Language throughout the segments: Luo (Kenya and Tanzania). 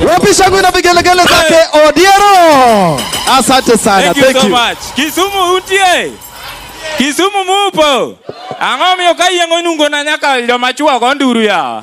Wapi shangwe na vigelegele zake Odiero. Asante sana. Thank you, Thank you so much. Kisumu utie. Kisumu mupo. Ang'o miyo kayieng'o nungo na nyaka joma chwo go nduru ya.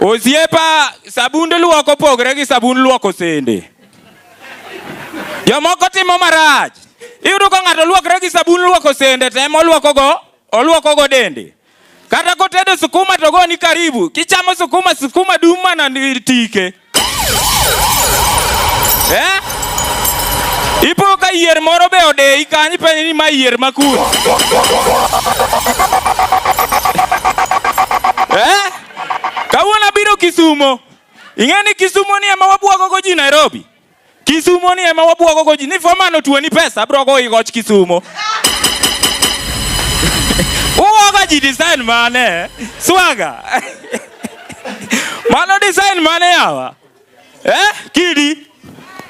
Osiepa, sabund luok opogre gi sabund luoko sende. Jomoko timo marach. Iyudo ka ng'ato luokre gi sabun luoko sende to ema oluokogo oluokogo dende. Kata kotedo sukuma to goni karibu. Kichamo sukuma, sukuma dum mana tike. Eh? Ipo ka yier moro be odeyi kanyo ipenjo ni ma yier ma kur. Eh? Kawuono abiro Kisumo. Ing'e ni Kisumo ni ema wabwagogo ji Nairobi. Kisumo ni ema wabwogo go ji ni fomano tuo ni pesa abro go igoch Kisumo. Uwoga ji design mane? Swaga. Mano design mane yawa? Eh, kidi.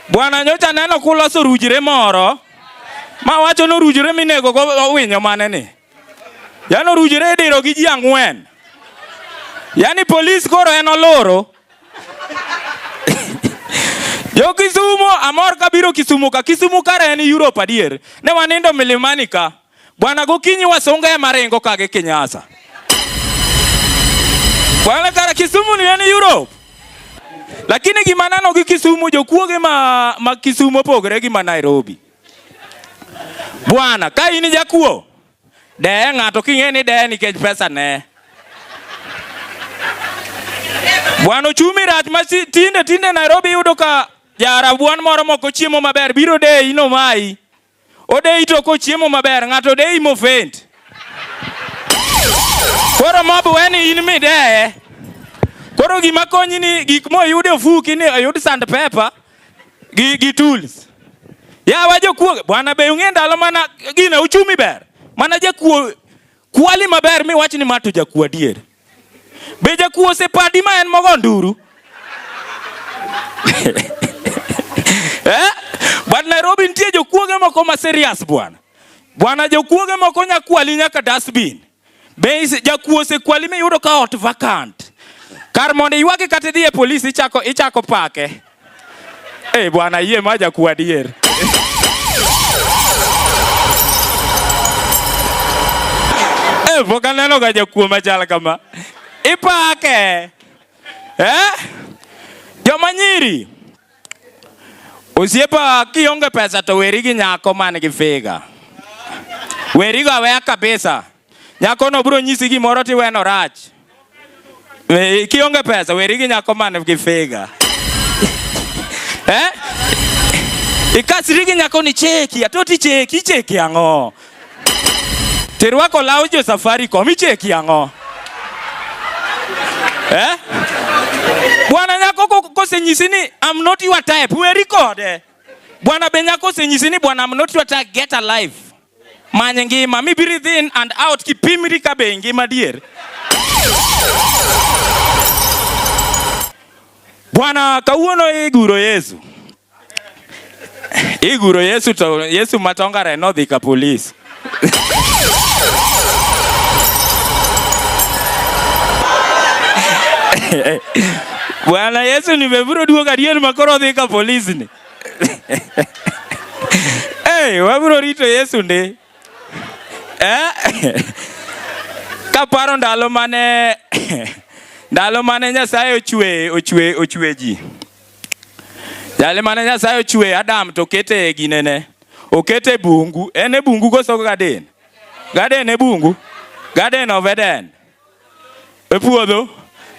Bwana nyocha neno kuloso rujire moro. Ma wacho no rujire minego go winyo mane ni. Yano rujire idiro gi ji ang'wen. Yaani polis koro en oloro Jo Kisumo amor kabiro Kisumu ka. Kisumu kare en Europe adier. Ne wanindo milimani ka. Bwana gokinyi wasunga ya marengo kage Kenyasa. Bwana kara Kisumu ni en Europe. Lakini gima nano gi Kisumu jokuoge ma, ma Kisumu opogore gi ma Nairobi. Bwana ka in jakuo Deye ng'ato king'e ni deye nikech pesa ne. Bwana ochumi rach ma tinde tinde Nairobi yudo ka jarabuan moro moko chiemo maber biro deyi no mai. Odeyi to ko chiemo maber ng'ato deyi mofent. Koro mob weni in mideye. Koro gima konyi ni gik moyude ofuki ni oyud sand pepa gi, gi tools ya wa jokuo bwana be ung'e ndalo mana gina uchumi ber mana jakuo kwali maber mi wach ni mato jakuo adier be jakuo osepadi ma en mogo nduru eh? but Nairobi nitie jokuoge moko ma serious bwana bwana jokuoge moko nyakwali nyaka dustbin Be jakuo osekwali miyudo ka ot vacant? Kar mondo iywage kata idhi e polis ichako ichako pake. Eh, bwana yie ma jakuo adier. Eh, pok aneno ga jakuo machal kama. Ipake. Eh? Joma nyiri. Osiepa kionge pesa to weri gi nyako man gi figa. Weri go aweya kabisa. Nyako no bro nyisi gimoro ti weno rach. We, kionge pesa weri gi nyako man gi figa. eh? Ikasri gi nyako ni cheki, atoti cheki, cheki ang'o? Terwako law jo Safaricom icheki ang'o? Eh? Bwana nyako kosenyisi ni I'm not your type, we record. Eh? Bwana be nyako kosenyisi ni bwana I'm not your type, get alive. Manye ngima, mi breathe in and out kipimri ka be ngima dier. Bwana kawuono iguro Yesu. Iguro Yesu to Yesu matongare nodhi ka polis. Bwana Yesu nimeburo duogo adier ma koro odhi ka polis ni. Hey, wabro rito Yesu ndi. Eh? Kaparo ndalo mane ndalo mane Nyasaye ochwe ochwe ochwe ji. Jali mane Nyasaye ochwe Adam to kete e ginene. Okete bungu. En e bungu koso gaden. Gaden e bungu. Gaden of Eden. E puodho.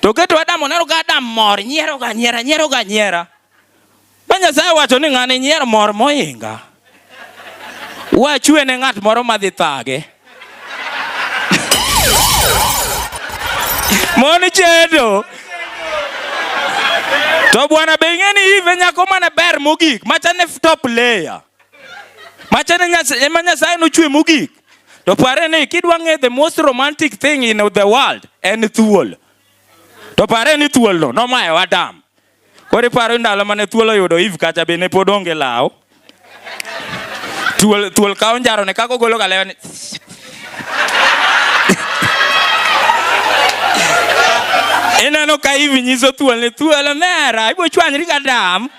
To keto Adam oneno ka Adam mor nyiero ga nyiera nyiero ga nyiera. Ba Nyasaye wacho ni ng'ani nyier mor moinga. Wachwe ne ng'at moro madhi thage. Mon chendo. To bwana be ing'e ni ive nyako mane ber mogik machane top layer. Machane ema Nyasaye nochwe mogik. To pare ni kidwa ng'e the most romantic thing in the world en thuol. To pare ni thuolno nomayo Adam. Koro iparo ndalo mane thuol oyudo Eve kacha be ne pod onge law. Thuol thuol kawo njaro ne kako golo galewa ni Ineno ka Eve nyiso thuol ni thuol omera ibo chwanyri ka dam.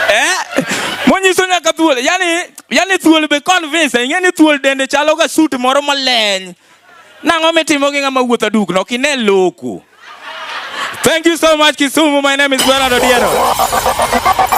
Eh? Monyiso nyaka thuol. Yaani Yani thuol be convince, ing'e ni thuol dende chalo ga suit moro maleny. Nang'o mitimo gi ng'ama wuotho adukno? Ok ine loku. Thank you so much Kisumu. My name is Bernard Odiero.